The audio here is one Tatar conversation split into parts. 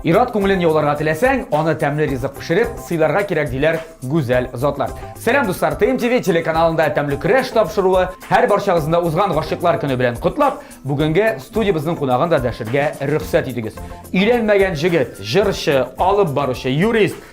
Ир-ат күңелен яуларга теләсәң, аны тәмле ризык пешереп, сыйларга кирәк, диләр гүзәл затлар. Сәлам, дуслар! ТМ ТВ телеканалында тәмле көрәш тапшыруы. Һәр барчагызны да узган Гашыйклар көне белән котлап, бүгенге студиябезнең кунагын да дәшергә рөхсәт итегез. Өйләнмәгән җегет, җырчы, алып баручы, юрист,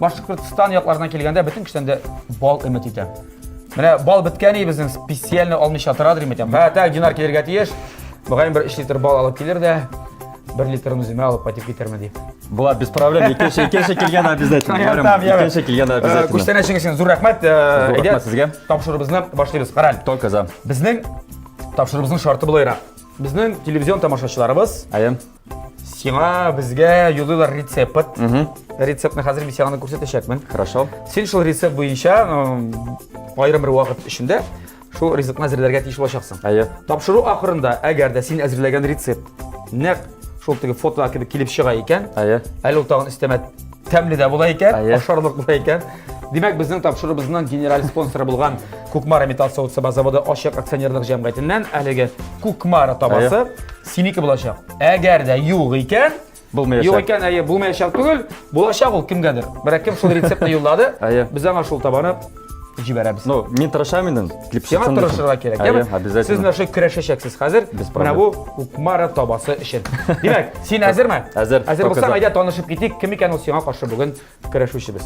Башкортстан якларына килгәндә бөтен кешедән дә бал өмет итә. Менә бал беткән и безнең специально алмыйча тора дим итәм. Ха, так динар килергә тиеш. Мөгаен бер 3 литр бал алып килер дә, 1 литрын үземә алып кайтып китермен дип. Була без проблем. Икенче икенче килгән обязательно. Ярым, Икенче килгән э, обязательно. Күчтән әчең өчен зур рәхмәт. Э, Әйдә, сезгә. Тапшырыбызны башлыйбыз. Караль. Только за. Безнең тапшырыбызның шарты булайрак. Безнең телевизион тамашачыларыбыз, әйе, Сиңа безгә юлыйлар рецепт. Рецептны хәзер мин сиңа күрсәтәчәкмен. Хорошо. Син шул рецепт буенча аерым бер вакыт эчендә шул ризыкны әзерләргә тиеш булачаксың. Әйе. Тапшыру ахырында, әгәр дә син әзерләгән рецепт нәкъ шул теге фото кебек килеп чыга икән, әйе. Әле ул тагын өстәмә тәмле дә була икән, ашарлык була икән. Димәк, безнең тапшыруыбызның генераль спонсоры булган Кукмара металл савыт саба заводы ачык акционерлык җәмгыятеннән әлеге Кукмара табасы Синеке булачак. Әгәр дә юк икән, Булмаячак. Юк икән, әйе, булмаячак түгел. Булачак ул кемгәдер. Берәк кем шул рецептны юллады. Әйе. Без аңа шул табаны җибәрәбез. Ну, мин тырышам инде. Сиңа тырышырга кирәк. Әйе, обязательно. Сез нәрсә көрәшәчәксез хәзер? Без Менә бу Укмара табасы өчен. Димәк, син әзерме? Әзер. Әзер булсаң, әйдә танышып китик. Кем икән ул сиңа каршы бүген Көрәшүчебез.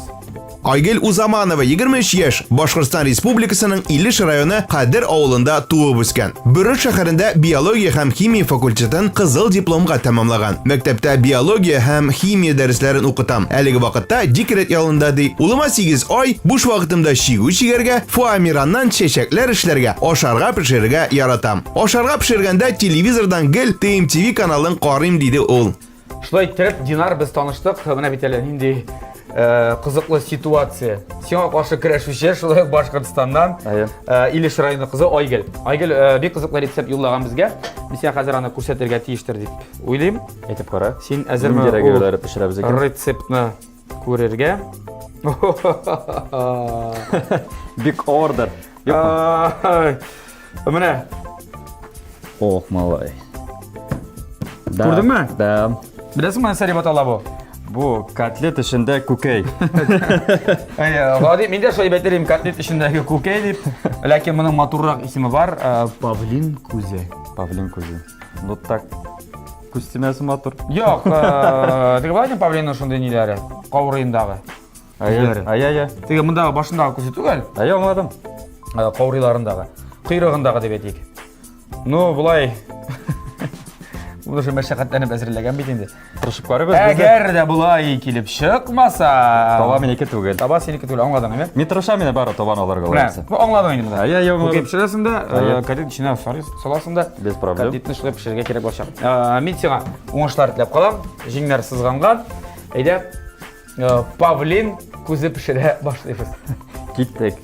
Айгел Узаманова, 23 яшь, Башкортстан Республикасының Илеш районы Кадер авылында туып үскән. Бөрек шәһәрендә биология һәм химия факультетын кызыл дипломга тәмамлаган. Мәктәптә биология һәм химия дәресләрен укытам. Әлеге вакытта декрет ялында ди. Улыма 8 ай, буш вакытымда чигү чигәргә, фоамираннан чәчәкләр эшләргә, ашарга пешерергә яратам. Ашарга пешергәндә телевизордан гел ТМТВ каналын карыйм, диде ул. Шулай иттереп, Динар без таныштык. Менә бит әле нинди э, кызыклы ситуация. Сиңа каршы көрәшүче, шулай ук Башкортстаннан э, Илеш районы кызы Айгел. Айгел э, бик кызыклы рецепт юллаган безгә. Мин сиңа хәзер аны күрсәтергә тиештер дип уйлыйм. Әйтеп кара. Син әзерме? Нинди рәгәләре пешерәбез икән? Рецептны Күрергә. Бик ордер. Менә. Ох, малай. Күрдеңме? Да. Беләсеңме, нәрсә дип атала бу? Бу котлет эчендә күкәй. Гади, мин дә шулай әйтер идем, котлет эчендәге күкәй дип. Ләкин моның матуррак исеме бар, павлин күзе. Павлин күзе. Ну так Күз тимәсе матур. Юк, э, теге Владимир Павлинның шундый ниләре, каурыендагы. Әйе, әйе, әйе. Теге мондагы башындагы күзе түгел, Әйе, аңладым. э, каурыйларындагы, койрыгындагы дип әйтик. Ну, булай. Ул уже мәшәкатьләнеп әзерләгән бит инде. Тырышып карыйбыз без. дә. Әгәр дә булай килеп чыкмаса, Таба минеке түгел. таба синеке түгел, аңладың әйме? Мин тырышам инде бары табан алырга Менә, лаесы. бу аңладың инде менә. Әйе, әйе, Бу аңладым. кепшерәсендә, Әйе. кадет эченә сарыйс. саласың да без проблем котлетны шулай пешерергә кирәк булачак мин сиңа уңышлар теләп калам җиңнәр сызганган әйдә павлин күзе пешерә башлыйбыз киттек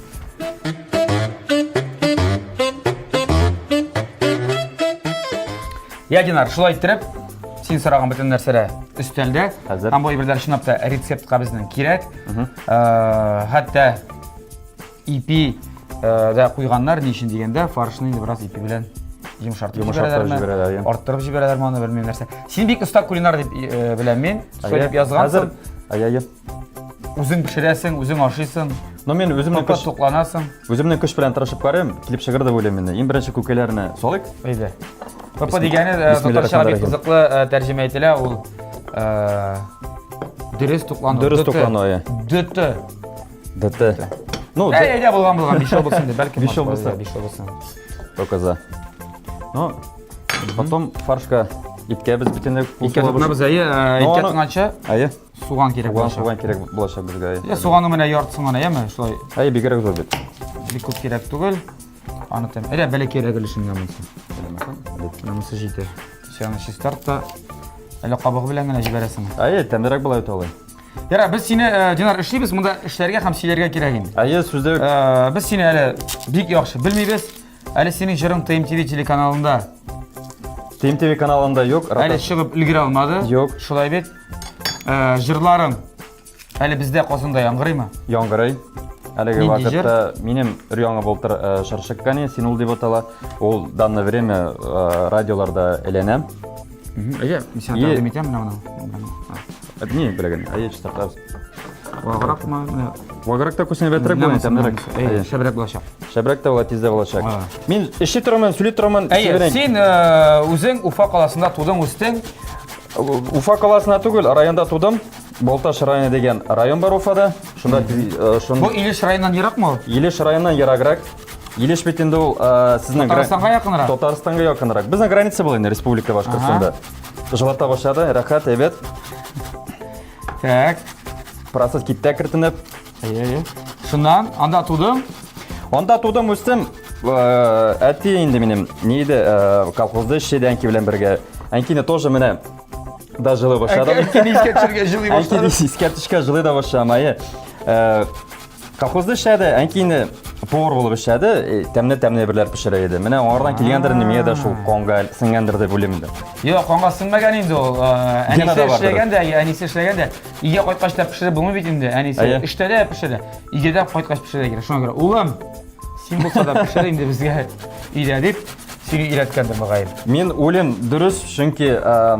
я динар шулай иттереп син сораган бөтен нәрсәләр өстәлдә һәм бу әйберләр чынлап та рецептка безнең кирәк хәтта Ипи дә куйганнар, ни өчен дигәндә, фаршны инде бераз ипи белән йомшартып җибәрәләрме, арттырып җибәрәләрме, аны белмим нәрсә. Син бик оста кулинар дип беләм мин, сөйләп язгансың. Хәзер үзең пешерәсең, үзең ашыйсың. Но мен үземнең көч тукланасың. Үземнең көч белән тырышып карыйм, килеп чыгыр дип уйлыйм инде. Иң беренче күкәләрне салыйк. Әйдә. Папа дигәне э, татарча бик кызыклы э, тәрҗемә ителә, ул э, дөрес туклану. Дөрес туклану, иә. Дөте. ДТ. Ну, Ә, әйдә, булган, булган, биш ел булсын, дип, бәлки. Биш ел булса. Биш ел булсын. Только за. Ну, потом фаршка иткә без бөтенләй кул Иткә тотынабыз, әйе, э, иткә тотынача. Әйе. Суган кирәк булачак. Суган кирәк булачак безгә, әйе. Ә суганны менә яртысын гына, әйеме, шулай. Әйе, бигрәк зур бит. Бик күп кирәк түгел. Аны тәм. Әйдә, бәләкәй рәгелешенгә булсын. Менә монысы җитә. Сианы чистарт та, әле кабыгы белән генә җибәрәсең. Әйе, тәмлерәк була бит алай. Ярар, без сине, э, Динар, эшлибез, монда эшләргә һәм сөйләргә кирәк инде. Әйе, сүзлек. Э, без сине әле бик яхшы белмибез. Әле синең җырың ТМТВ телеканалында. ТМТВ каналында юк. Әле чыгып өлгерә алмады. Юк. Шулай бит. Э, җырларың әле бездә Казанда яңгырыймы? Яңгырый. Әлеге вакытта минем өр-яңа булып тор шыршык кәне, син ул дип атала. Ул данное время радиоларда әйләнә. Әйе, мин сиңа тәкъдим итәм менә моны. Одни беләген, а я чиста каз. Ваграк ма? Ваграк та күсенә бәтрәк була икән, мәрәк. Әйе, шәбрәк булачак. Шәбрәк та була тиздә булачак. Мин эшли торман, сүли торман. Әйе, син э, үзең Уфа каласында тудың, үстең. Уфа каласында түгел, районда тудым. Болташ районы деген район бар Уфада. Шунда э, шун Бу Илеш районыннан ерак ма? Илеш районыннан ераграк. Илеш бит инде ул э, сезнең Татарстанга якынрак. Татарстанга якынрак. Безнең граница була инде республика Башкортстанда. Жылата башлады, рәхәт, әйбәт. Так. Процесс китте кертенеп. Әйе. Шуннан анда тудым. Анда тудым, үстем. Э, әти инде минем не иде, э, колхозда эшләде әнки белән бергә. Әнкине тоже менә да җылы башлады. Әнкине искә төшергә җылый башлады. Әнкине искә төшкә җылый да башламай. Э, Колхозда эшләде, әнки инде повар булып эшләде, э, тәмле-тәмле берләр пешерә иде. Менә аңардан килгәндер инде миңа да шул конга сеңгәндер дип уйлыйм инде. Юк, канга сеңмәгән инде ул. Э, Әнисе Генада бардыр. эшләгән дә, я, әнисе эшләгән дә. Өйгә кайткач та пешереп булмый бит инде. Әнисе Әйе. эштә дә пешерә. Өйгә дә кайткач пешерә кирәк. Шуңа күрә, улым, син булса да пешер инде безгә өйдә дип сөйли өйрәткәндер мөгаен. Мин уйлыйм, дөрес, чөнки э,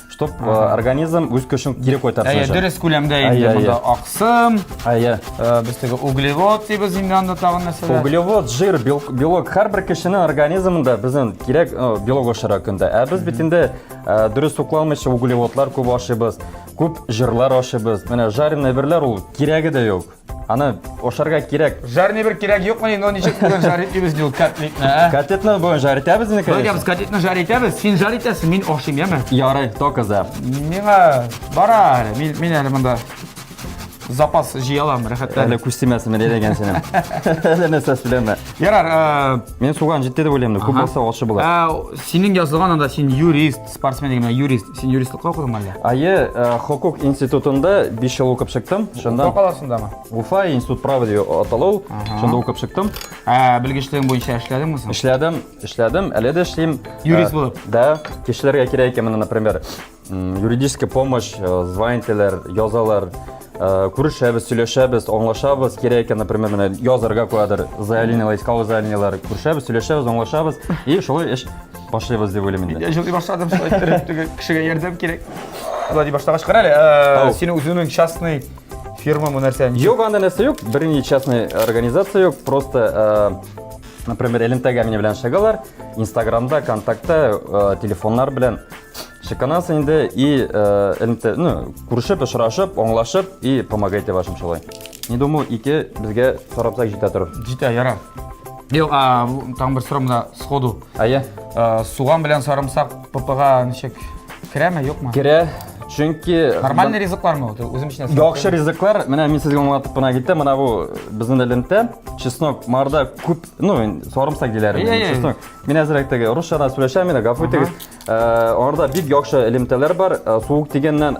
Чтоб э, организм үз көчен кире кайтарсын Әйе, өчен. дөрес күләмдә Әйе, инде әйе. монда аксым, Әйе. э, без теге углевод дибез инде анда тагын нәрсәләр. Углевод, жир, бел- белок һәрбер кешенең организмында безнең кирәк э, белок ашыра көндә. Ә без бит инде э, дөрес тукламыйча углеводлар күп ашыйбыз, күп жирлар ашыйбыз. Менә жареный берләр ул кирәге дә юк. Аны ашарга кирәк. Жарный бер кирәк юкмы, но ничек бүген жар итәбез ди ул котлетны, ә? Котлетны бүген жар итәбез инде, конечно. Бәгәбез котлетны жар итәбез. Син жар итәсең, мин ашыйм, яме? Ярый, только за. Миңа бара әле. Мин, мин әле монда запас җыя алам, рәхәтләнеп. Әле күз тимәсен, мин дигән синең. Әле нәрсә сөйләмә. Ярар, ә... Мин суган җитте дип уйлыйм, күп булса ачы була. Ә, синең язылган анда син юрист, Спортсмен дигән юрист. Син юристлыкка укыдыңмы әллә? Әйе, э, хокук институтында 5 ел укып чыктым. Шунда Уфа каласындамы? Уфа институт права дип атала ул. Шунда укып чыктым. Ә белгечлегең буенча эшләдеңме соң? Эшләдем, эшләдем, әле дә эшлим. Юрист Э, булып? Да, кешеләргә кирәк икән менә, например, м, юридическая помощь, э, звонить итәләр, язалар, э, күрешәбез, сөйләшәбез, аңлашабыз, кирәк икән, например, менә язарга куядыр, заявлениеләр, исковое заявлениеләр, күрешәбез, сөйләшәбез, аңлашабыз, и шулай эш Башлыйбыз дип уйлыйм инде. Я җылый башладым, шулай иттереп теге кешегә ярдәм кирәк. Шулай дип башлагач кара әле, э, Ау. син үзеңнең частный фирма бу нәрсә? ничек? Юк, анда нәрсә юк, берни частный организация юк, просто э, например, элемтәгә мине белән шагалар, Инстаграмда, ВКонтакте, э, телефоннар белән Шыканасы инде и элемтә, ну, күрешеп, очрашып, аңлашып и помогайте вашим шулай. Не думаю, ике безгә сарапсак җитә торыр. Җитә, яра. Юк, а там бер сорам да сходу. Әйе. Суган белән сарымсак ППга ничек керәме, юкмы? Керә. Чөнки нормальный ризыклармы ул? Үзем өчен әсәр. Яхшы ризыклар. Менә мин сезгә аңлатып кына киттем. Менә бу безнең элемтә. Чеснок марда күп, ну, сарымсак диләр. Чеснок. Мин әзрәк теге русча да сөйләшәм, мин гафу итегез. Аңарда бик яхшы элемтәләр бар. Суык дигәннән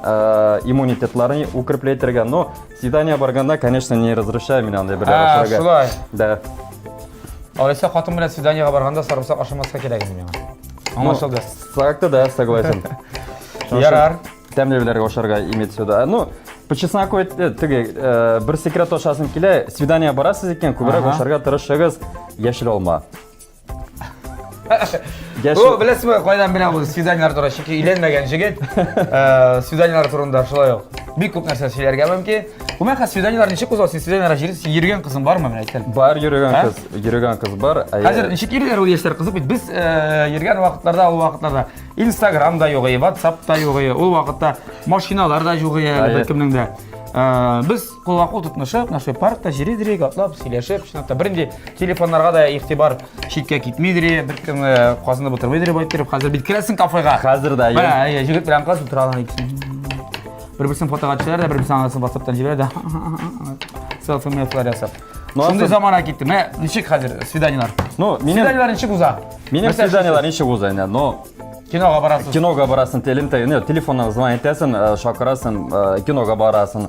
иммунитетларын укреплей итәргә. Но свидание барганда, конечно, не разрешаю мин андай бер ашарга. Шулай. Да. Алайса хатын белән свиданиега барганда сарымсак ашамаска кирәк инде миңа. Аңлашылды. Сакты да, согласен. Ярар. Тәмле беләргә ашарга имеет сюда. Ну, по чесноку теге бер секрет ашасың килә, свидание барасыз икән, күбрәк ашарга тырышыгыз, яшел алма. Бу беләсезме, кайдан белә бу свиданиеләр турында? Чөнки өйләнмәгән җегет э, свиданиеләр турында шулай ук бик күп нәрсә сөйләргә мөмкин. Гомумән, хәзер свиданиеләр ничек уза? Син свиданиеләр җирсең, йөргән кызың бармы, менә әйткән? Бар йөргән кыз, йөргән кыз бар. Хәзер ничек йөриләр ул яшьләр кызык бит. Без э, йөргән вакытларда, ул вакытларда Instagram да югы, WhatsApp та югы, ул вакытта машиналар да югы әле беркемнең дә. Э, без Кулга кул тотнышып, наши паркта җиридри, атлап, сөйләшеп, чынлап та бернинди телефоннарга да игътибар читкә китмидри, беркем э, казынып утырмыйдыр дип әйттереп, хәзер бит керәсең кафега. Хәзер дә. Менә, әйе, җегет белән кыз утыра алган икесе. Бер-берсен фотога төшәләр дә, бер-берсен анасын WhatsApp-тан җибәрә дә. Селфи мелфилар ясап. Ну, Шундый асыл- замана китте. Менә ничек хәзер свиданиелар? Ну, минем Свиданиелар ничек уза? минем Мәсәлән, свиданиелар ничек уза инде? Но Кинога барасыз. кинога барасың, телем тә, не, телефоннан звонить итәсең, э, шакырасың, э, кинога барасың.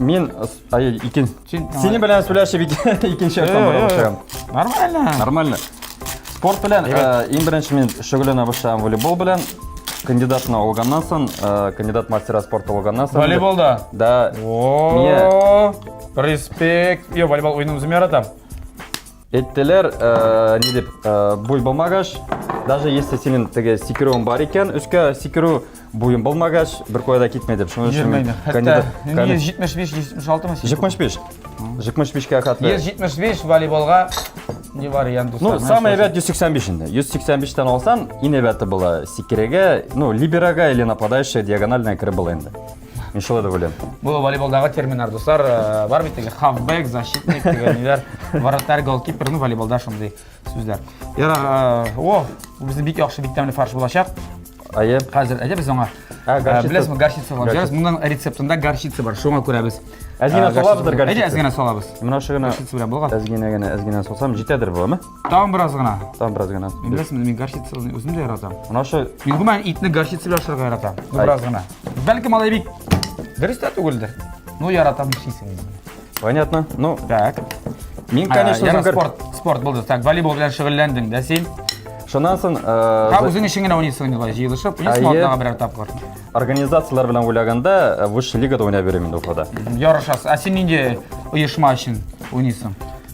Мин, ай, икен. Сине белән сөйләшеп икенче автомобиль башлыйм. Нормально. Нормально. Спорт белән иң беренче мин шөгыльләнә башлыйм волейбол белән. Кандидатны алганнан соң, кандидат мастера спорта алганнан соң. Волейболда? Да. О, респект. Я волейбол уйнап үзем яратам. Әйттеләр, ни дип, буй булмагач, даже если синең теге сикерүең бар икән, өскә сикерү буең булмагач, бер куя да китмәй дип. Шуның өчен мин кандидат. 175 176 мы? 75. 75-кә хәтле. 175 волейболга не вариант. Ну, самый әйбәт 185 инде. 185-тән алсаң, иң әйбәте була. Сикерегә, ну, либерага или нападающая диагональная кереп була инде. Мин шулай да беләм. Бу волейболдагы терминнар, дуслар, э, бар бит теге хавбек, защитник дигән ниләр, вратарь, голкипер, ну волейболда шундый сүзләр. Ярар, э, о, бу безнең бик яхшы, бик тәмле фарш булачак. Әйе. Хәзер әйдә без аңа. Ә, э, горчица. Беләсез, горчица алып җарыз. Моның рецептында горчица бар, шуңа күрә без. Әз генә салабыздыр горчица. Әйдә, әз генә салабыз. Менә шугына. Горчица белән булган. Әз генә генә, әз генә салсам җитәдер бу, әме? Тагын бераз гына. Тагын бераз гына. Мин беләсең, мин горчица үзем дә яратам. Менә шо мин гомумән итне горчица белән ашарга яратам. Бераз гына. Бәлки малай бик дөрес тә түгелдер. Ну яратам ишисең инде. Понятно. Ну, так. Мин, конечно, үзем спорт, спорт булды. Так, волейбол белән шөгыльләндең дә син. Шуннан соң, э, һәм үзең өчен генә уйныйсың инде былай җыелышып, уйныйсың атнага берәр тапкыр. Организацияләр белән уйлаганда, э, высшая лигада уйнап йөрим инде Уфада. Ярышасыз. Ә син нинди оешма өчен уйныйсың?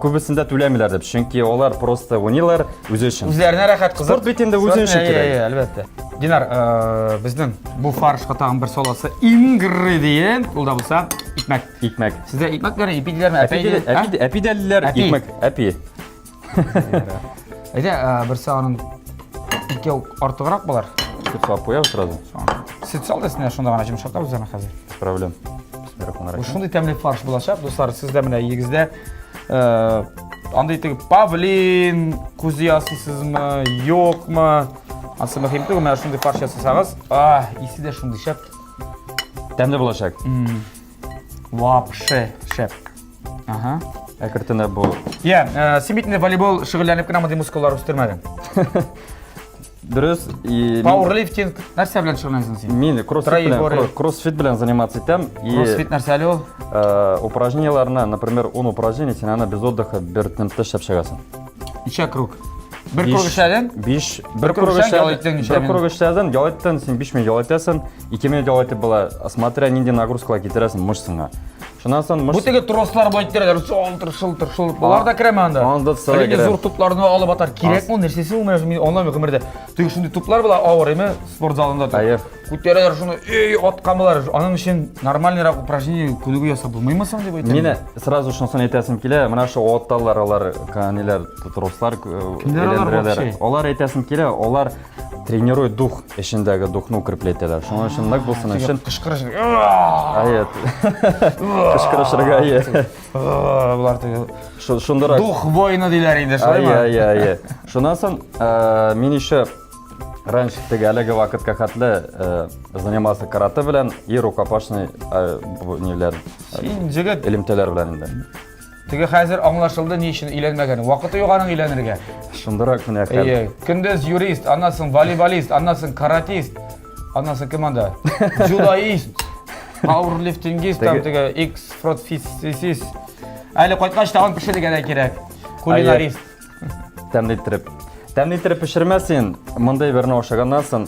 Күбесендә түләмиләр дип, чөнки алар просто уйныйлар үзе өчен. Үзләренә рәхәт кызык. Спорт бит инде үзе өчен кирәк. Әйе, әлбәттә. Динар, э, безнең бу фаршка тагын бер саласы ингредиент, ул да булса икмәк. Икмәк. Сездә икмәк бар, ипи диләрме? Әпи диләр. Әпи диләр, икмәк, әпи. Әйдә, э, берсе аның икәү артыграк булар. Сүт салып куябыз сразу. Сүт сал да синә шунда гына җимшатабыз аны хәзер. Проблем. Шундый тәмле фарш булачак, дуслар, сездә менә егездә э, андый итеп павлин күзе ясыйсызмы, юкмы? Асы мөһим түгел, менә шундый фарш ясасагыз, а, исе дә шундый шәп. Тәмле булачак. Вообще шәп. Ага. Әкертенә бу. Я, э, син бит инде волейбол шөгыльләнеп кенә мондый мускуллар үстермәдең. Дөрес. И... Пауэрлифтинг нәрсә белән шөгыльләнәсең син? Мин кроссфит белән, кроссфит белән заниматься итәм. Кроссфит нәрсә әле ул? Э, упражнениеләрне, например, 10 упражнение, син аны без отдыха бер темпта эшләп чыгасың. Ничә круг? Бер круг эшләдең? 5 бер круг эшләдең. Бер круг эшләдең, ял иттең, син 5 минут ял итәсең, 2 минут ял итеп була. Смотря нинди нагрузкалар китерәсең мышцаңа. Шуннан соң Бу мышц теге трослар былай тирәләр шылтыр шылтыр шылтыр. Болар да керәме анда? Анда да Әле керә. зур тупларны алып атар. Кирәкме ул нәрсәсе ул менә мин аңламыйм гомердә. Теге шундый туплар була авыр име спорт залында тор. Хәер. Күтәрәләр шуны, эй, аткан булар. Аның өчен нормальныйрак упражнение күнегү ясап булмыймы соң дип әйтәм. Мені сразу шунысын әйтәсем килә, менә шу отталар алар, ниләр, трослар э, Кемнәр алар әйләндерәләр. вообще? Алар әйтәсем килә, алар Тренируй дух эчендәге духны укреплять итәләр. Шуның өчен нык булсын өчен кычкырыш. Ает. Кычкырышырга ие. Булар теге. Шундырак. Дух воины диләр инде, шулаймы? Ая, ая, ая. Шуннан соң э, мин еще раньше теге әлеге вакытка хәтле э, занимался карате белән и рукопашный э, ниләр. Син җегет элемтәләр белән инде. Теге хәзер аңлашылды ни өчен өйләнмәгән. Вакыты юк аның өйләнергә. Шундырак менә хәл. Әйе. Көндез юрист, аннан соң волейболист, аннан соң каратист. Аннан соң кем анда? Дзюдоист, пауэрлифтингист, там теге X фротфисис. Әле кайткач тагын пешерергә дә кирәк. Кулинарист. Тәмле иттереп. Тәмле иттереп пешермә син. Мондый берне ашаганнан соң,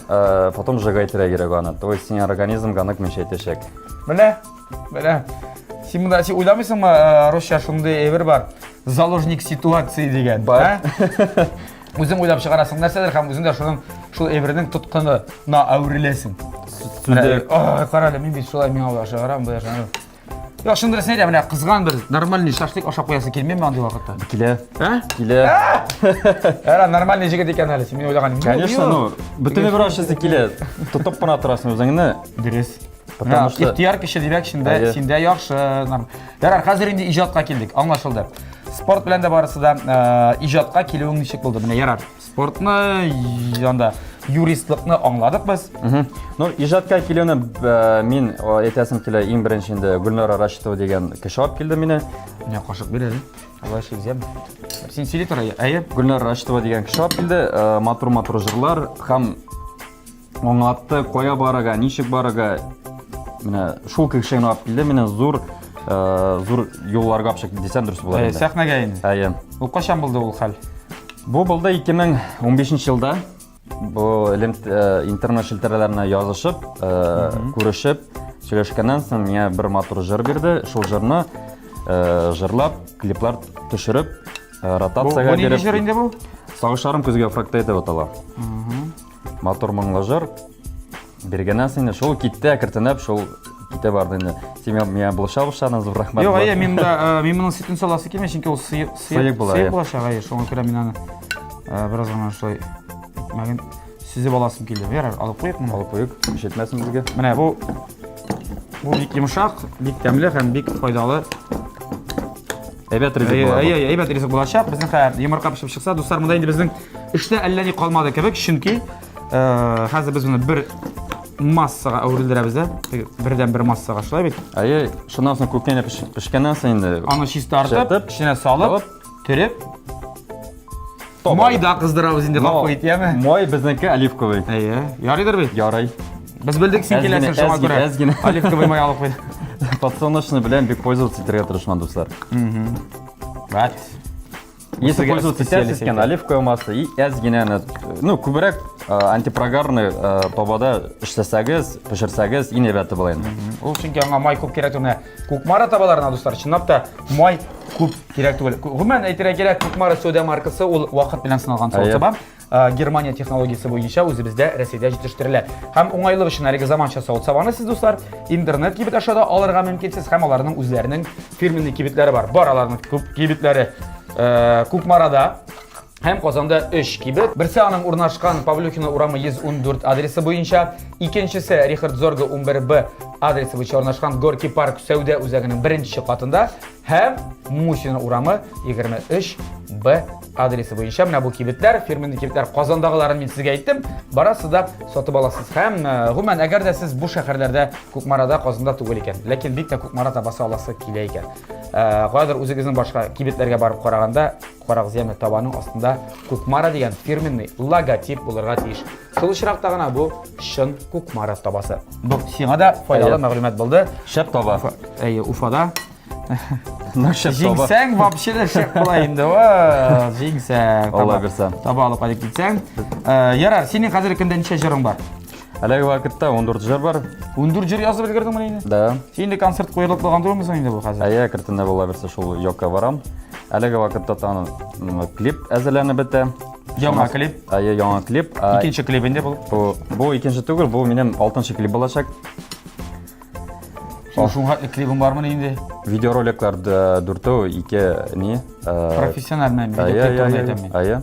потом сжигать кирәк аны. То есть синең организмга нык мешәйтәчәк. Менә Менә син монда син уйламыйсыңмы, э, русча шундый әйбер бар. Заложник ситуации дигән. Бар. Үзең уйлап чыгарасың нәрсәдер һәм үзең дә шуның шул әйбернең тоткынына әвереләсең. Сүндереп. Ай, карале, мин бит шулай миңа уйлап чыгарам, бу яшәнү. Як шундырсын әйтә, менә кызган бер нормальный шашлык ашап куясы килми миңа андый вакытта. Килә. Ә? Килә. Әра нормальный җигет икән әле, син мин уйлаганым. Конечно, ну, бөтенләй бер ашасы килә. Тотып кына торасың үзеңне. Дөрес. Потому что... Ихтияр кеше димәк, шында, Әйе. синдә яхшы. Ярар, хәзер инде иҗатка килдек, аңлашылды. Спорт белән дә барысы да э, иҗатка килүең ничек булды? Менә ярар, спортны, анда юристлыкны аңладык без. Ну, иҗатка килүне э, мин әйтәсем килә, иң беренче инде Гөлнара Рашитова дигән кеше алып килде мине. Менә кашык бир әле. Алай шизем. Син сөйли тора, әйе? Гөлнара Рашитова дигән кеше алып килде. Э, матур-матур җырлар һәм Аңлатты, кая барырга, ничек барырга. Менә шул кеше генә алып килде, менә зур э, зур юлларга алып чыкты дисәм дөрес булыр Ә, инде. Сәхнәгә инде. Әйе. Ул кайчан булды ул хәл? Бу булды 2015 елда. Бу элем- э, интернет челтәрләренә язышып, э, күрешеп, сөйләшкәннән соң миңа бер матур җыр бирде. Шул җырны э, жырлап, клиплар төшереп, э, Бу, ротациягә бу нинди биреп. җыр инде бу? Сагышларым көзгә фракта итеп атала. Матур моңлы җыр. Бергәнә сине шул китте әкертенеп, шул китә барды инде. Син миңа булыша башладың, зур рәхмәт. Юк, әйе, мин да мин моның сөтен саласы килми, чөнки ул сыек сыек була. Сыек була шагай, шуңа күрә мин аны бераз гына шулай мәген сүзеп аласым килде. Ярар, алып куйык моны. Алып куйык, ишетмәсен безгә. Менә бу бу бик йомшак, бик тәмле һәм бик файдалы Әйбәт ризык була. Әйе, әйе, әйбәт ризык булачак. Безнең хәзер йомырка пешеп чыкса, дуслар, монда инде безнең эштә әллә ни калмады кебек, чөнки э, хәзер без моны бер массага әверелдерәбез дә. Бердән бер массага шулай бит. Әйе, шуннан соң күпкә генә пешкәннән соң инде. Аны чистартып, эченә салып, төреп, Май да кыздырабыз инде, гафу ит, яме? Май безнеке оливковый. Әйе. Ярыйдыр бит? Ярый. Без белдек син киләсең шуңа күрә. Әз генә. Оливковый май алып куй. Подсолнечный белән бик пользоваться итәргә тырышман, дуслар. Бат. Если пользоваться сетясь икән, оливковое масло и әз генә, ну, күбрәк антипрогарный табада эшләсәгез, пешерсәгез, иң әйбәте була инде. Ул чөнки аңа май күп кирәк түгел. Кукмара табаларына, дуслар, чынлап та май күп кирәк түгел. Гомумән әйтергә кирәк, Кукмара сода маркасы ул вакыт белән сыналган сода саба. Германия технологиясе буенча үзебездә Рәсәйдә җитештерелә. Һәм уңайлык өчен әлеге заманча савыт сабаны сез, дуслар, интернет кибет аша да алырга мөмкинсез һәм аларның үзләренең фирменный кибетләре бар. Бар аларның күп кибетләре Кукмарада. һәм Казанда 3 кибет. Берсе аның урнашкан Павлюхина урамы 114 адресы буенча, икенчесе Рихард Зорга 11Б адресы буенча урнашкан Горки парк сәүдә үзәгенең беренче катында һәм Мусина урамы 23Б адресы буенча менә бу кибетләр, фирменный кибетләр Казандагыларын мин сезгә әйттем. Барасыз да сатып аласыз. Һәм э, гомумән, әгәр дә сез бу шәһәрләрдә Кукмарада, Казанда түгел икән, ләкин бик тә Кукмара табасы аласы килә икән. Э, кадәр үзегезнең башка кибетләргә барып караганда Карак зыяны табаның астында Кукмара дигән фирменный логотип булырга тиеш. Шул очракта гына бу чын Кукмара табасы. Бу сиңа да файдалы мәгълүмат булды. Шәп таба. Әйе, Уфада Җиңсәң, вообще дә шәп була инде. Ва, җиңсәң. Алла бирсә. Таба алып кайтып китсәң. Ярар, синең хәзер кемдә ничә җырың бар? Әлеге вакытта 14 җыр бар. 14 җыр язып өлгердеңме инде? Да. Инде концерт куелып калган түгелме соң инде бу хәзер? Әйе, кертендә була берсе шул Йокка барам. Әлеге вакытта таны клип әзерләнеп бетә. Яңа клип. Әйе, яңа клип. Икенче клип инде бул. Бу, бу икенче түгел, бу минем алтынчы клип булачак. Шуңа хәтле клибым бармы инде? Видеороликлар дүртәү, ике не. Профессиональный видеоклип әйтәм мин. Әйе.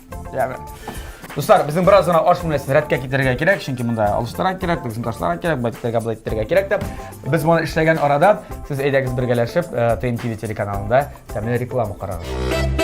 Дуслар, безнең бераз гына аш бүлмәсен рәткә китерергә кирәк, чөнки монда алыштырак кирәк, безнең ташларга кирәк, байттерга былай итәргә кирәк дип. Без моны эшләгән арада сез әйдәгез бергәләшеп э, ТМ ТВ телеканалында тәмле реклама карагыз.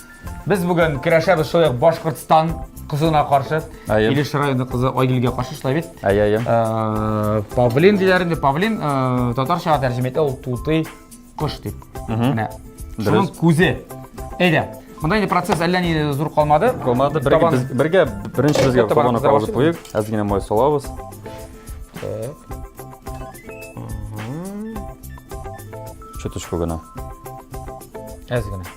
Без бүген көрәшәбез шулай ук Башкортстан кызына каршы. Әйе. Илеш районы кызы Айгилгә каршы шулай бит. Әйе, әйе. Э, Павлин диләр инде. Павлин э, татарчага тәрҗемә итә ул тутый кош дип. Менә. Шуның Дөрес. күзе. Әйдә. Монда инде процесс әллә ни зур калмады. Команда бергә Табан- без бергә беренче безгә Табан табаны кыза кабызып башлыйк. куйык. Әз генә май салабыз. Так. Чуточку гына. Әз генә.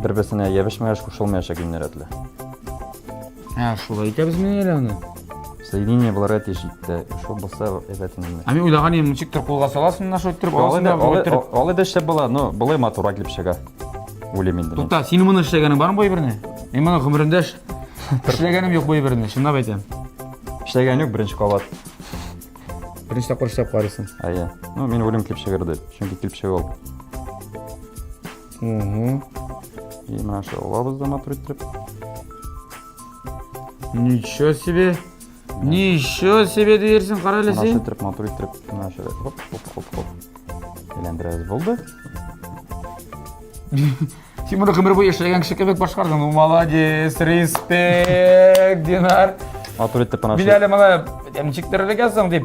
Бер-берсенә ябышмаеш, кушылмаешак геннәр рәтле. Ә, шулай итәбез мени әле аны? Соединение буларга тиеш итте. Шул булса әйбәт инде. Ә мин уйлаган идем, ничектер кулга саласың да шулай иттереп, аласың да шулай иттереп. Алай да эшләп була, но болай матурак дип чыга. Уйлыйм инде. Тукта, син моны эшләгәнең бармы бу әйберне? Мин моны гомеремдә эшләгәнем юк бу әйберне, чынлап әйтәм. Эшләгән юк беренче кабат. Беренче тапкыр эшләп карыйсың. Әйе. Ну, мин уйлыйм килеп чыгыр дип, чөнки килеп чыгып И мына шул лабызда матур иттереп. Ничего себе! Ничего себе дерсен, кара әле син. Мына шул матур иттереп, мына шул. Хоп, хоп, хоп, хоп. Әйләндерәбез булды. Син моны гомер буе эшләгән кеше кебек башкардың. Ну, молодец, респект, Динар. Матур итеп мына. Биләле моны ничек терелгән соң дип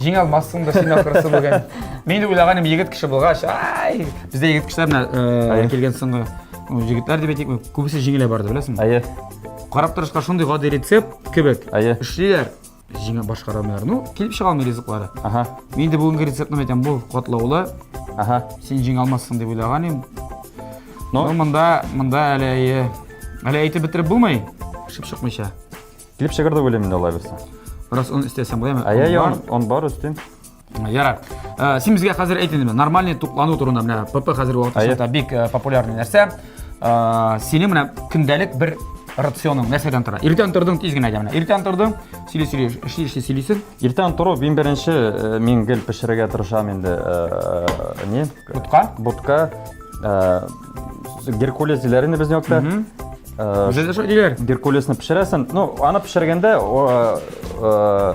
Җиңә алмассың да син ахрысы бүген. Мин дә уйлаганым егет кеше булгач, ай, бездә егет кешеләр менә э, килгән соңгы җегетләр дип әйтик, күбесе җиңелә барды, беләсеңме? Әйе. Карап торышка шундый гади рецепт кебек. Әйе. Эшлиләр. Җиңә башкара алмыйлар. Ну, килеп чыга алмый ризыклары. Ага. Мин дә бүгенге рецептны әйтәм, бу катлаулы. Ага. Син җиңә алмассың дип уйлаган идем. Ну, монда, монда әле әле әйтеп бетереп булмый. Шып чыкмыйча. Килеп чыгыр дип уйлыйм инде алай булса. Раз он истәсәң булаймы? Ә я он, он бар өстен. Ярар. Э, син безгә хәзер әйт инде, нормальный туклану турында менә ПП хәзер вакытта бик э, популярный нәрсә. Э, синең менә көндәлек бер рационың нәрсәдән тора? Иртән тордың тиз генә генә. Иртән тордың, сөйли сөйли, эшли эшли сөйлисең. Иртән тору мин беренче мин гел пешерергә тырышам инде. Не? Бутка. Бутка. Геркулес диләр инде безнең якта. Үзегез шулай диләр. Геркулесны пешерәсен. Ну, аны пешергәндә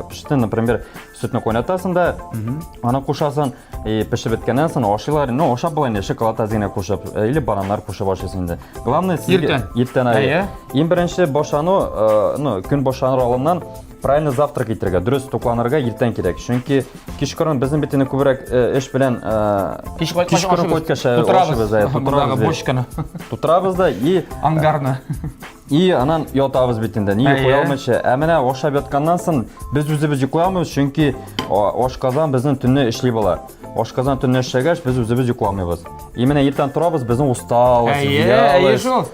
пеште, например, сөтне кайнатасың да, аны кушасың, и пешеп беткәннән соң ашыйлар. Ну, ашап була инде, шоколад азына кушып, или бананнар кушып ашыйсың инде. Главное, иртән. Иртән. Иң беренче башлану, ну, көн башланыр алдыннан Правильно завтрак итәргә, дөрес тукланырга иртән кирәк. Чөнки кичкырын безнең бит инде күбрәк э, эш белән э, Кич кайткач кичкырын ашыгыз. кайткач э, Тутырабыз. ашыгыз, э, Мондагы тутырабыз, э, бочканы, тутырабыз да и ангарны. и анан ятабыз бит инде. Ни Әйе. йоклый алмыйча. Ә менә ашап ятканнан соң без үзебез йоклый алмыйбыз, чөнки а, ашказан безнең төнне эшли була. Ашказан төнне эшләгәч, без үзебез йокламыйбыз. И менә иртән торабыз, безнең усталость, Әйе, әйе вялость, шул.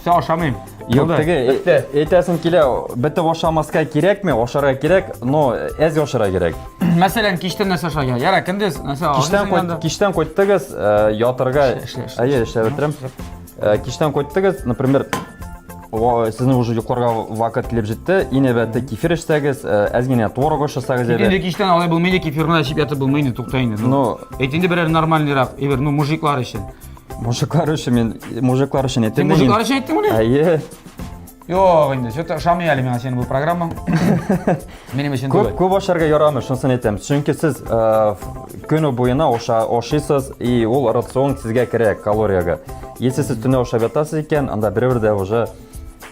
Все, ашамыйм. Юк, теге әйтәсем килә, бетеп ашамаска кирәкме, ашарга кирәк, но әз ашарга кирәк. Мәсәлән, киштән нәрсә ашарга? Яра, көндез нәрсә Киштән кайт, киштән кайттыгыз, э, ятырга. Әйе, эшләп бетерәм. Э, киштән кайттыгыз, например, сезнең уже йокларга вакыт килеп җитте. Ине бәте кефир эчсәгез, э, әз генә творог ашасагыз иде. Инде киштән алай булмый, кефирны эчеп ятып булмый инде, тукта инде. Ну, әйт инде берәр нормальныйрак, ибер, ну, мужиклар өчен. Мужиклар өчен мин мужиклар өчен әйттем. Син мужиклар өчен әйттең мени? Әйе. Юк, инде, что-то ошамый әле миңа синең бу программаң. Минем өчен түгел. Күп күп ашарга ярамый, шунысын әйтәм. Чөнки сез э, көне буена аша ашыйсыз, и ул рацион сезгә керә калорияга. Если сез төне ашап ятасыз икән, анда берәү дә уже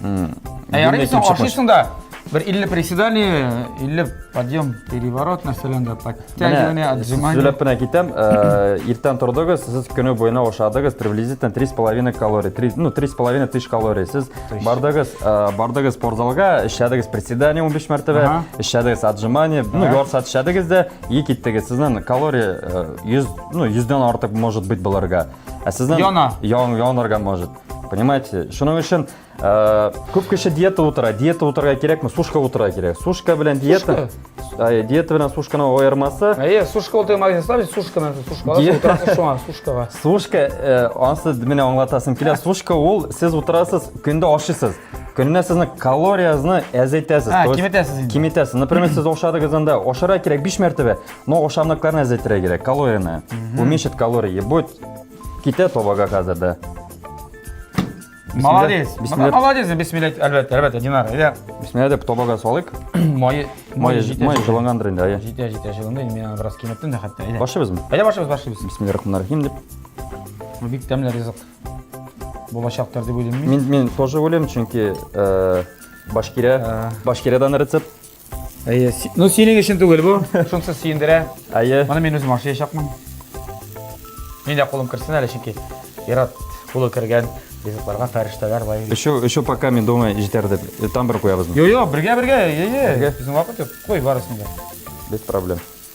Ә ярый син ашыйсың да. Бер 50 приседание, 50 подъем, переворот нәрсәлән дә подтягивание, отжимание. Сөйләп кенә китәм. Э, иртән тордыгыз, сез көне буена ашадыгыз, приблизительно 3,5 калорий, 3, ну 3,5 тысяч калорий. Сез бардыгыз, э, бардыгыз спортзалга, эшләдегез приседание 15 мәртәбә, эшләдегез отжимание, ну ярса эшләдегез дә, и киттегез. Сезнең калория 100, э, ну 100 дән артык может быть булырга. Ә сезнең яна, ян, янарга может. Понимаете? Шуның өчен э, күп кеше диета утыра. Диета утырырга кирәкме? Сушка утырырга кирәк. Сушка белән диета. Ай, диета белән сушканы аермасы. Әйе, сушка утыру магазин ставлю, сушка на сушка. Ди... Утырасыз шуңа, сушкага. Сушка, э, ансы менә аңлатасым килә. Сушка ул сез утырасыз, көндә ашыйсыз. Көненә сезнең калориясезне әзәйтәсез. Ә, киметәсез инде. Киметәсез. Например, сез ашадыгыз анда, ашара кирәк 5 мәртәбә, но ашамлыкларны әзәйтергә кирәк, калорияны. Уменьшить калории. Будет Китә табага хәзер дә. Молодец. Бисмилла. Молодец, бисмилла, әлбәттә, әлбәттә, Динар. Әйдә. Бисмилла дип табага салыйк. Майы, майы җитә. Майы җылынгандыр инде, әйе. Җитә, җитә, җылынды. Мин аны бераз киметтем дә хәтта. Әйдә. Башыбызмы? Әйдә башыбыз, башыбыз. Бисмилла рахман рахим дип. Бу бик тәмле ризык. Булачактыр дип уйлыйм мин. Мин мин тоже уйлыйм, чөнки э, башкирә, э. башкирәдән рецепт Әйе. Ну, синең өчен түгел бу. Шунысы сөендерә. Әйе. Моны мин үзем ашыячакмын. Мин дә кулым керсен әле, чөнки Ират кулы кергән ризыкларга фәрештәләр бай. Өчү, өчү пока мин думаю, җитәр дип. Э, там бер куябызмы? Йо, йо, бергә, бергә. Йо, йо. Безнең вакыт юк. Куй барысын да. Без проблем.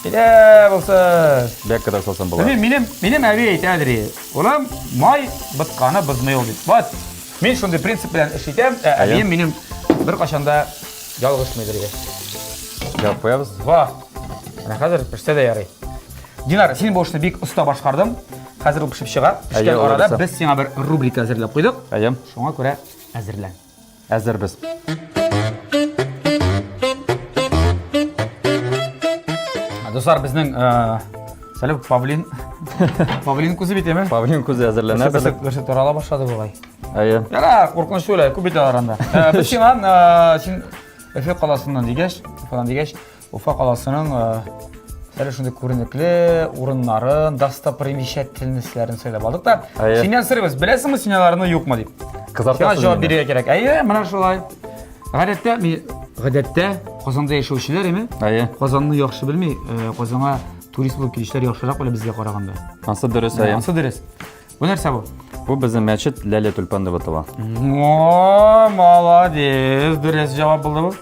Килә булсын. Бәк кадәр салсам була. Минем минем минем әби әйтә дри. Улым, май бытканы бызмый ул дип. Вот. Мин шундый принцип белән эш итәм. Ә әбием минем бер кашанда ялгышмый дри. Я появс. Ва. Менә хәзер пешсә дә ярый. Динар, син бу эшне бик оста башкардың. Хәзер ул пешеп чыга. Пешкән арада без сиңа бер рубрика әзерләп куйдык. Әйе. Шуңа күрә әзерлән. Әзербез. Дуслар, безнең Сәләм, павлин. Павлин күзе бит әме? Павлин күзе әзерләнә. Бәсе бәсе тарала башлады булай. Әйе. Яра, куркыныч түгел, күп бит аранда. Без сиңа син Эфе каласыннан дигәч, фалан дигәч, Уфа каласының әле шундый күренекле урыннарын, достопримечательностьләрен сөйләп алдык та. Семья сырыбыз, беләсеңме семьяларны юкмы дип. Кызартасың. Җавап бирергә кирәк. Әйе, менә шулай. Гадәттә, гадәттә Казанда яшәүчеләр име? Әйе. Казанны яхшы белми, Казанга турист булып килүчеләр яхшырак белә безгә караганда. Ансы дөрес, әйе. Ансы дөрес. Бу нәрсә бу? Бу безнең мәчет Ләлә Тюльпан дип атала. О, молодец! Дөрес җавап булды бу.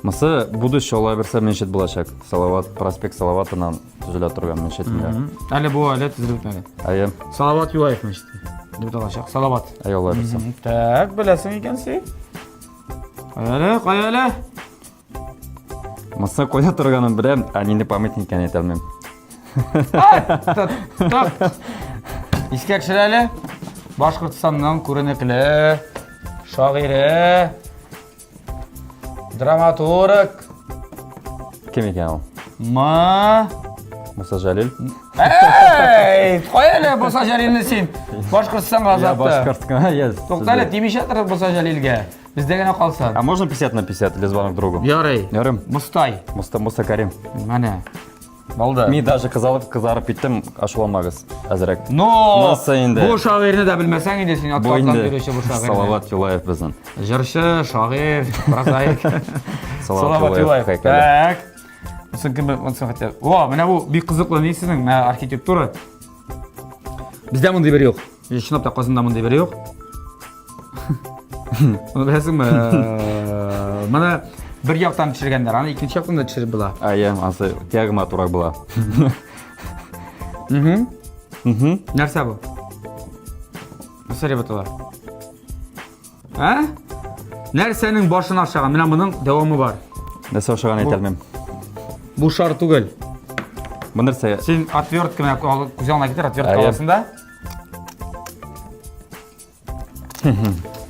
Мысы будущее алай берсе мәчет булачак. Салават, проспект Салаватынан төзелә торган мәчет инде. Әле бу әле төзелеп бетмәгән. Әйе. Салават Юлаев мәчете. Дип алачак. Салават. Әйе, алай берсе. Так, беләсең икән син. Кая әле, кая әле? Маса коя торганын беләм, ә нинди памятник икәнен әйтә алмыйм. Искә төшерә әле. Башкортстанның күренекле шагыйре, драматург. Кем икән ул? Ма Муса Җәлил. Эй, кой әле Муса Җәлилне син. Башкортстанга азатты. Башкорт кына, yes. Туктале, тимешә торып Муса Җәлилгә. Бездә генә калса. А можно 50 на 50 или звонок другу? Ярый. Ярым. Мустай. Муста Муста Карим. Менә. Алда. Мин даже кызалып кызарып киттем, ашуламагыз. Әзрәк. Но! Муста инде. Бу шагыйрне дә белмәсәң инде син атлардан йөрүче бу шагыйрь. Салават Юлаев безнең. Җырчы, шагыйрь, прозаик. Салават Юлаев. Так. Сон кем онсын хәтта. О, менә бу бик кызыклы ни сезнең архитектура. Бездә мондый бер юк. Мин чынлап та Казанда мондый бер юк. Аны беләсеңме? Моны бер яктан төшергәннәр, аны икенче яктан да төшереп була. А, я, ансы диагма турак була. Угу. Угу. Нәрсә бу? Нәрсә дип атала? Ә? Нәрсәнең башын ашаган? Менә моның дәвамы бар. Нәрсә ашаган әйтә алмыйм. Бу шар түгел. Бу нәрсә? Син отвертка менә күз алдына китер, отвертка аласың да.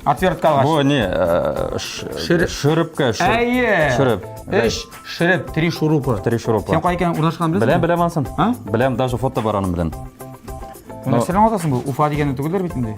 Отвертка алгач. Бу не? Э, шөрепкә, шөреп. Әйе. Шөреп. Эш, шөреп, три шурупы. Три шурупы. Сен кай икән урнашкан беләсең? Беләм, беләм ансын. Беләм, даже фото бар аның белән. Нәрсәләр атасың бу? Уфа дигәнне түгелдер бит инде.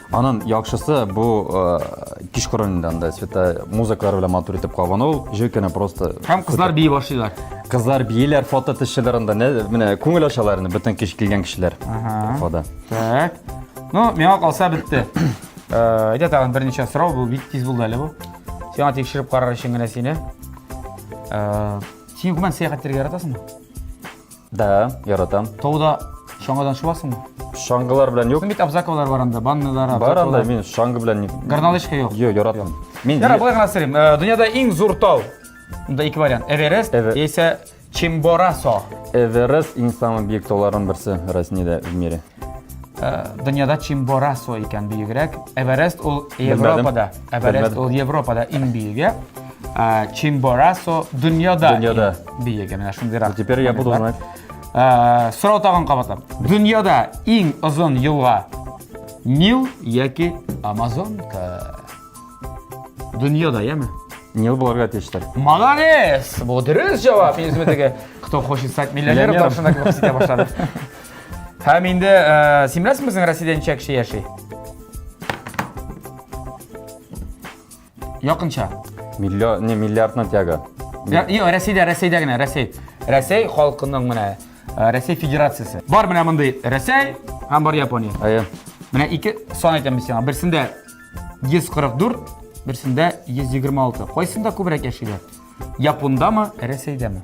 Анын яхшысы бу кичкорын инде анда цвета музыкалар белән матур итеп кабыну, җир кенә просто. Һәм кызлар бии башлыйлар. Кызлар бииләр, фото төшәләр анда, менә күңел ачалар инде бөтен кич килгән кешеләр. Фода. Так. Ну, миңа калса бетте. Әйдә тагын берничә сорау, бу бик тиз булды әле бу. Сиңа тикшереп карар өчен генә сине. Син гомумән сәяхәт итәргә яратасыңмы? Да, яратам. Тауда чаңгыдан шуасыңмы? Чаңгылар белән юк. Син бит Абзаковлар бар анда, баннылар, Бар анда мин чаңгы белән Горнолычка юк. Юк, яратам. Мин Яра, болай гына сырым. Э, дөньяда иң зур тау. Мында ике вариант. Эверест яисә Чимборасо. Эверест иң самый биек тауларның берсе Россиядә в мире. дөньяда Чимборасо икән биегрәк. Эверест ул Европада. Эверест ул Европада иң биеге. Чимборасо дөньяда. Дөньяда. Биеге. Менә шундыйрак. Теперь я буду знать. Сорау тагын кабатлап. Дөньяда иң озын елга Нил яки Амазонка. Дөньяда, яме? Нил буларга тиештер. Молодец! Бу дөрес җавап. Мин үземә теге, кто хочет стать миллионером, тапшырына кебек хис итә башладым. Һәм инде э, син беләсеңме безнең Россиядә ничә кеше яши? Якынча. Миллион, не миллиардна тяга. Йо, Россиядә, Россиядә генә, Россия. Россия халкының менә э, Россия Федерациясе. Бар менә мондый Россия һәм бар Япония. Әйе. Менә ике сан әйтәм сиңа. Берсендә 144, берсендә 126. Кайсында күбрәк яшиләр? Япондамы, Россиядәме?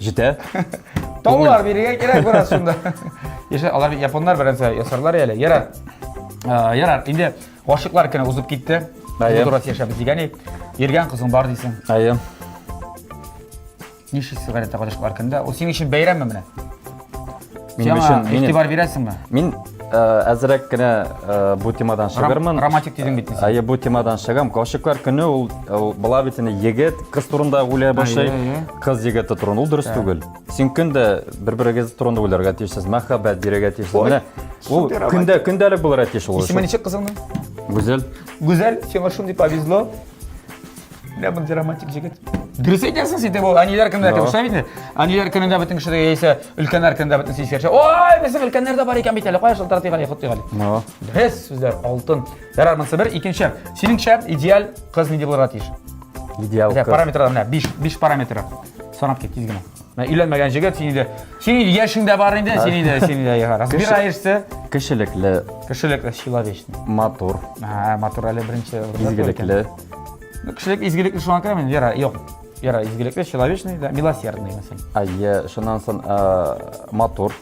Җитә. Таулар бирергә кирәк бераз шунда. Яшә, алар японнар беренче ясарлар әле. Ярар. Э, ярар, инде гашыклар көне узып китте. Әйе. Дурас яшәбез дигән ит. Иргән кызың бар дисең. Әйе. Ничек сигарета гашыклар көнендә? Ул синең өчен бәйрәмме менә? Сиңа игътибар бирәсеңме? Мин э, әзрәк кенә э, бу темадан чыгармын. Романтик дидең бит син. Әйе, бу темадан чыгам. Гашыйклар көне ул бала бит инде егет, кыз турында уйлый башлый. Кыз егете турында ул дөрес түгел. Син көндә бер-берегез турында уйларга тиешсез, мәхәббәт бирергә тиешсез. Менә ул көндә көндәлек булырга тиеш ул. Исеме ничек кызыңның? Гүзәл. Гүзәл, сиңа шундый повезло. Бля, мындай романтик җегет. Дөрес әйтәсең син, бу әниләр көнендә кем шулай бит? Әниләр көнендә бөтен кеше яисә өлкәннәр көнендә бөтен сискә төшә. Ой, безнең өлкәннәр дә бар икән бит әле. Кая шылтырат дигән, хут дигән. Ну. Дөрес сүзләр, алтын. Ярар, монысы бер, икенче. Синеңчә идеаль кыз нинди булырга тиеш? Идеаль кыз. Параметрлар менә 5, 5 параметры. Санап кит тиз генә. Менә өйләнмәгән җегет син инде. Син инде яшең дә бар инде, син инде, син инде яга. Разбираешься. Кешелекле. Кешелекле, человечный. Матур. Ага, матур әле беренче. Изгелекле. Кешелек изгелекле шуңа керә мин, Вера, юк. Вера изгелекле, человечный, да, милосердный мәсәлән. Әйе, шуннан соң матур.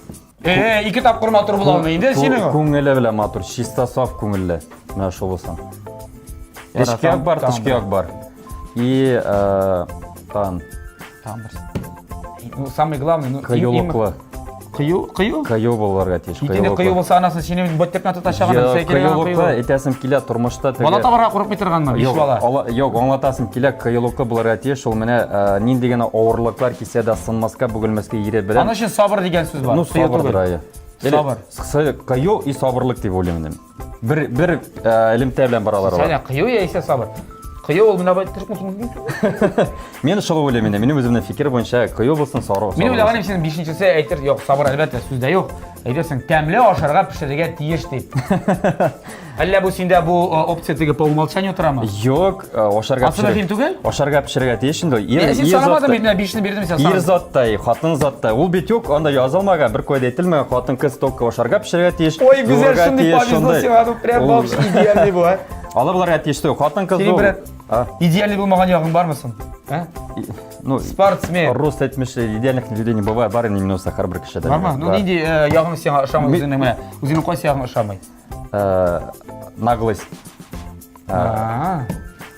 Э, ике тапкыр матур була алмый инде синең. Күңеле белән матур, чиста саф күңелле. Менә шул булсын. Эшкә бар, тышкы як бар. И тан Тагын берсе. Ну, самый главный, ну, Кыюлыклы. Кыю, кыю? Кыю булырга тиеш. Итене кыю булса анасын сине бот тепна тота чаган сәй килә. Кыюлыкта әйтәсем килә тормышта теге. Бала табарга курыкмый торганмы? Биш бала. Юк, аңлатасым килә кыюлыкта булырга тиеш. Ул менә э, нинди генә авырлыклар кисә дә сынмаска, бүгелмәскә ире белән. Аның өчен сабыр дигән сүз бар. Ну, сабыр. Сабыр. Кыю и сабырлык дип уйлыйм мин. Бер бер э, элемтә белән баралар алар. Сәнә кыю яисә сабыр. Кыю ул менә бай төрек мөсулман. Мен шулай уйлыйм инде. Минем үземнең фикер буенча кыю булсын, сары. Мин уйлаганым синең бишенчесе әйтер, юк, сабыр әлбәттә сүздә юк. Әйтерсең, тәмле ашарга пешерергә тиеш дип. Әллә бу синдә бу э, опция теге по умолчанию торамы? Юк, ашарга Асы мөһим түгел? Ашарга пешерергә тиеш инде. Ир, син санамадың бит, менә бишне бирдем син Ир заттай, хатын заттай. Ул бит юк, анда язылмаган, бер кайда әйтелмәгән, хатын кыз только ашарга пешерергә тиеш. Ой, гүзәл, шундый повезло сиңа, ну прям вообще идеальный бу, а. Алырларга тиеш түгел, хатын кыз бу. Идеальный булмаган ягың бармы соң? А? Ну, спортсмен. Рост әйтмешли, идеальных людей не бывает, бар инде минуса һәрбер кешедә. Бармы? Ну, нинди ягың сиңа ошамый үзеңнең менә? Үзеңнең кайсы ягың ошамый? э, наглость э,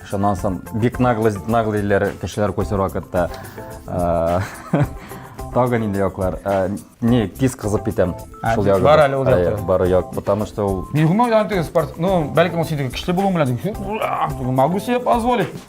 шуннан соң бик наглость наглыйлар кешеләр күрсәр вакытта э, тагы нинди яклар э, не тиз кызып китәм Ә, шул ягы бар әле ул якта. бар як потому что ул Бигума янтыгы спорт, ну, бәлкем ул синеке көчле булуың белән, могу себе позволить.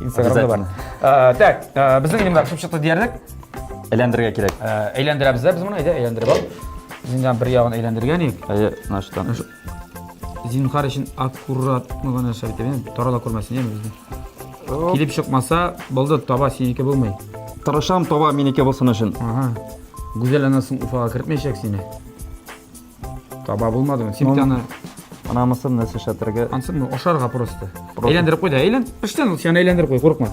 инстаграмда бар Ә, так ә, безнең инде мына пешеп чыкты диярлек Әйләндерергә кирәк. Ә, әйләндерәбез дә без моны әйдә әйләндереп ал Без инде аны бер ягын әйләндергән идек Әйе, мына шудан. зинһар өчен аккуратно гына нәрсә бит әйе, тарала күрмәсен яме безне килеп чыкмаса булды таба синеке булмый Тырышам таба минеке булсын өчен. ага гүзәл анасың уфага кертмәячәк сине Таба булмадымы? Син бит аны Анамысы нәрсә шәтергә. Ансы ну ашарга просто. Әйләндереп куй да, әйлән. Пештән ул сине әйләндереп куй, курыкма.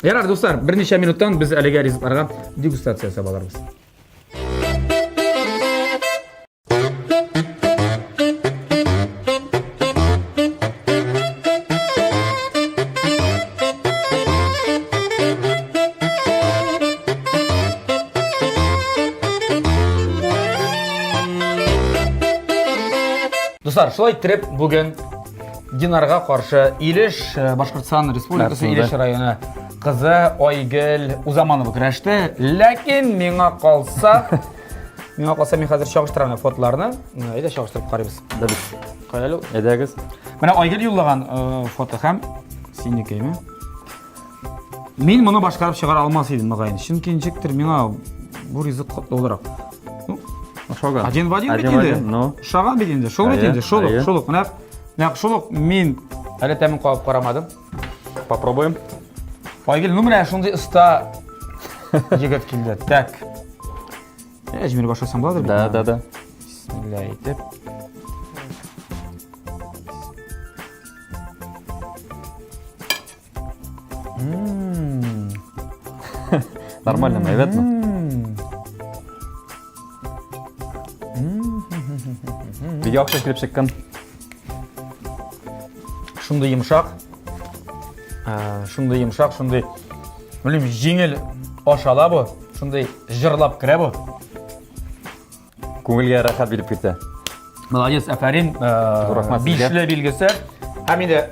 Ярар, дуслар, берничә минуттан без әлегә ризыкларга дегустация ясап алырбыз. Дуслар, шулай иттереп бүген Динарга каршы Илеш э, Башкортстан Республикасы Нәрсә, Илеш да? районы кызы Айгөл Узаманова көрәште. Ләкин миңа калса Миңа калса мин хәзер чагыштырам менә фотоларны. Әйдә чагыштырып карыйбыз. Да бит. Каялу, әйдәгез. Менә Айгөл юллаган э, фото һәм синекеме? Мин моны башкарып чыгара алмас идем мөгаен. Чөнки ничектер миңа бу ризык катлы буларак. Ну, Ошаган. Один в один бит Один в инде. один, ну. Ошаган бит инде. Шул бит Әйе, инде, шул ук, әйе. шул ук. Менә, менә шул ук мин әле тәмен кабып карамадым. Попробуем. Айгел, ну менә шундый оста егет килде. Так. Әҗмир башласаң буладыр бит. Да, да, да. Бисмилла әйтеп. Нормально, наверное. Бик яхшы килеп чыккан. шундый йомшак ә, шундый йомшак шундый белмим җиңел ашала бу шундый җырлап керә бу күңелгә рәхәт биреп китә молодец әфәрин ә, бишле билгесе һәм инде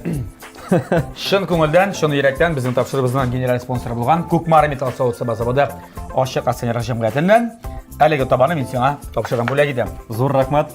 шын күңелдән шын йөрәктән безнең тапшырыбызның генераль спонсоры булган күкмар металл соусы базаводы ашык акционерлар җәмгыятеннән әлеге табаны мин сиңа тапшырам бүләк итәм зур рәхмәт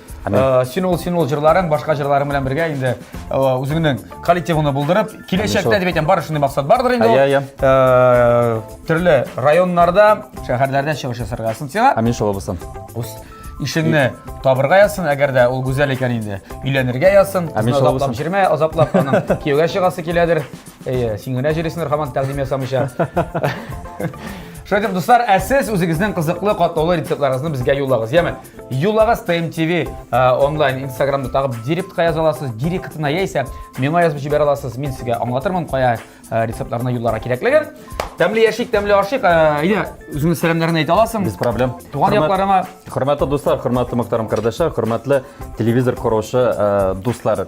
Э, син ул син ул җырларың башка җырларың белән бергә инде э, үзеңнең коллективыңны булдырып киләчәктә дип әйтәм бар шундый максат бардыр инде иә иә э, төрле районнарда шәһәрләрдә чыгыш ясарга язсын сиңа амин шулай булсын ишеңне табырга язсын әгәр дә ул гүзәл икән инде өйләнергә язсын азаплап җирмә азаплап аның кияүгә чыгасы киләдер Әйе, син генә җырыйсыңдыр хаман тәкъдим ясамыйча. Шулай итеп, дуслар, ә сез үзегезнең кызыклы катлаулы рецептларыгызны безгә юллагыз. Яме, юллагыз TMTV онлайн Инстаграмда тагып директка яза аласыз, директына яисә миңа язып җибәрә аласыз. Мин сезгә аңлатырмын кая рецептларны юлларга кирәклеген. Тәмле яшик, тәмле ашык. Әйе, үзеңнең сәламнәрен әйтә аласың. Без проблем. Туган якларыма. Хөрмәтле дуслар, хөрмәтле Мөхтәрәм кардәшләр, хөрмәтле телевизор коручы дуслар.